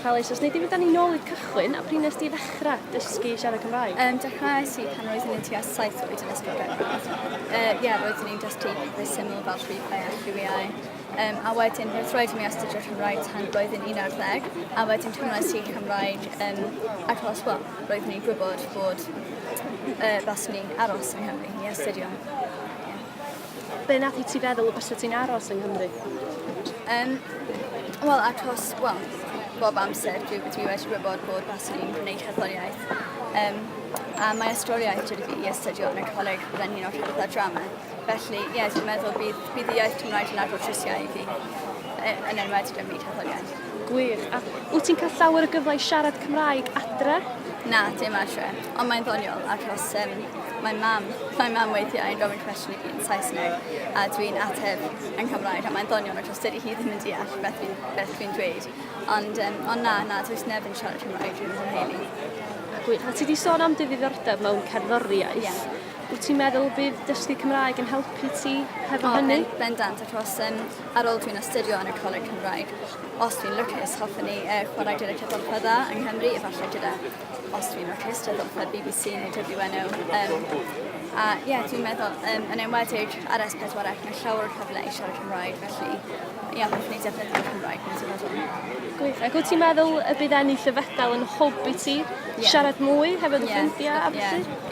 Helo eisoes, neu dim ni nôl i'r cychwyn, a pryd nes di ddechrau dysgu siarad Cymraeg? Um, dechrau si pan roeddwn i'n tua saith oed yn ysgol Gaerfyrdd. Ie, uh, yeah, roeddwn i'n dysgu pethau syml fel rhywbeth a rhywiau. Um, a wedyn, roedd roedd mi astudio Cymraeg tan blwyddyn 11, a wedyn cymryd si Cymraeg um, ac os well, roeddwn i'n gwybod bod uh, baswn i'n aros yng Nghymru i astudio. Be nath i ti feddwl y bysa ti'n aros yng Nghymru? Um, Wel, achos, wel, bob amser dwi, dwi wedi gwybod bod Basil yn gwneud cerddoriaeth. Um, a mae ysgoliaeth wedi fi i astudio yn y coleg byddai'n un o'r cerdd a drama. Felly, ie, yeah, dwi'n meddwl bydd, bydd iaith Cymraeg yn agor trisiau i fi, e, yn enwedig ym myd cerddoriaeth. Gwych. A wyt ti'n cael llawer o gyfle i siarad Cymraeg adre? Na, dim adre. Ond mae'n ddoniol achos um, mae mam, mae mam weithiau yn gofyn cwestiwn i fi yn Saesneg a dwi'n ateb yn Cymraeg a mae'n ddoniol achos dydy hi ddim yn deall beth fi'n beth fi'n dweud. Ond, um, ond na, na, dwi'n neb yn siarad Cymraeg dwi'n fy A ti wedi sôn am dy ddiddordeb mewn cerddoriaeth. Yeah. Wyt ti'n meddwl bydd dysgu Cymraeg yn helpu ti hefo oh, hynny? Ben, bendant, achos um, ar ôl dwi'n astudio yn y Coleg Cymraeg, os dwi'n lwcus, hoffwn ni uh, chwarae gyda cydolfa dda yng Nghymru, efallai gyda, os dwi'n lwcus, cydolfa BBC neu WNO. Um, a ie, yeah, dwi'n meddwl, um, yn enwedig ar S4C, mae llawer o cyfle i siarad Cymraeg, felly ie, yeah, hoffwn ni defnyddio'r Cymraeg, mae'n ti'n meddwl. Gwych, ac wyt ti'n meddwl y bydd ennill y fedal yn hwb i ti yeah. siarad mwy hefyd y yeah, ffrindiau a felly? Yeah.